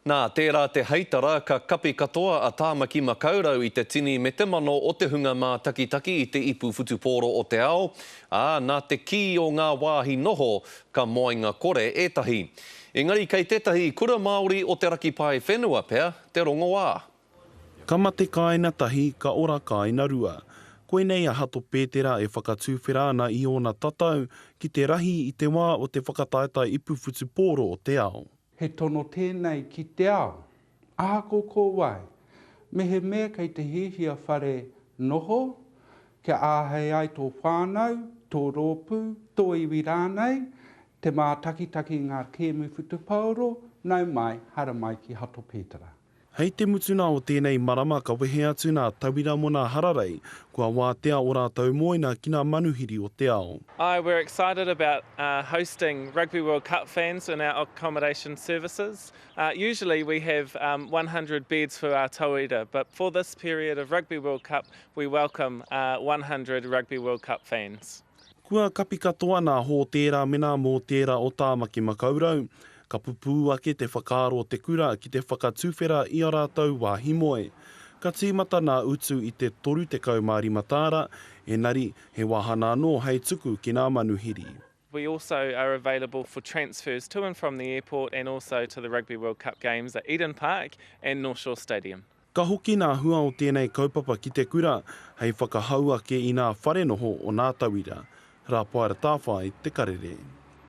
Nā tērā te heitara ka kapi katoa a Tāmaki Makaurau i te tini me te mano o te hunga mātakitaki i te ipu whutupōro o te ao, ā, nā te kī o ngā wāhi noho, ka moenga kore ētahi. Engari kei tētahi kura Māori o te raki pae whenua pea te rongoā. Ka mate kāina tahi, ka ora kāina rua. Koinei a Hato Pētera e whakatuwhera ana i ōna tatau ki te rahi i te wā o te whakataetae ipu whutupōro o te ao. He tono tēnei ki te ao. Ahako ko wai, mehemea kei te hiahia whare noho, kia āhei ai tō whānau, tō rōpū, tō iwi rānei, te mātakitaki i ngā kēmu whutupaoro, nau mai, haramai ki Hato Pētara. Hei te mutunga o tēnei marama ka wehe atu nā tauira mō nā hararei kua wātea o rātou mōina ki nā manuhiri o te ao. I we're excited about hosting Rugby World Cup fans in our accommodation services. Usually we have one hundred beds for our tauira but for this period of Rugby World Cup we welcome one hundred Rugby World Cup fans. Kua kapi katoa nā Hōtēra me nā Mōtēra o Tāmaki Makaurau. Ka pupū ake te whakaaro o te kura ki te whakatuwhera i a rātou wāhi moe. Ka tīmata nā Utu i te 35 tāra, engari he wāhana anō hei tuku ki nā manuhiri. We also are available for transfers to and from the airport and also to the Rugby World Cup games at Eden Park and North Shore Stadium. Ka hoki nā hua o tēnei kaupapa ki te kura hei whakahau ake i nā whare noho o nā tauira, Rapaera Tawhai, Te Karere.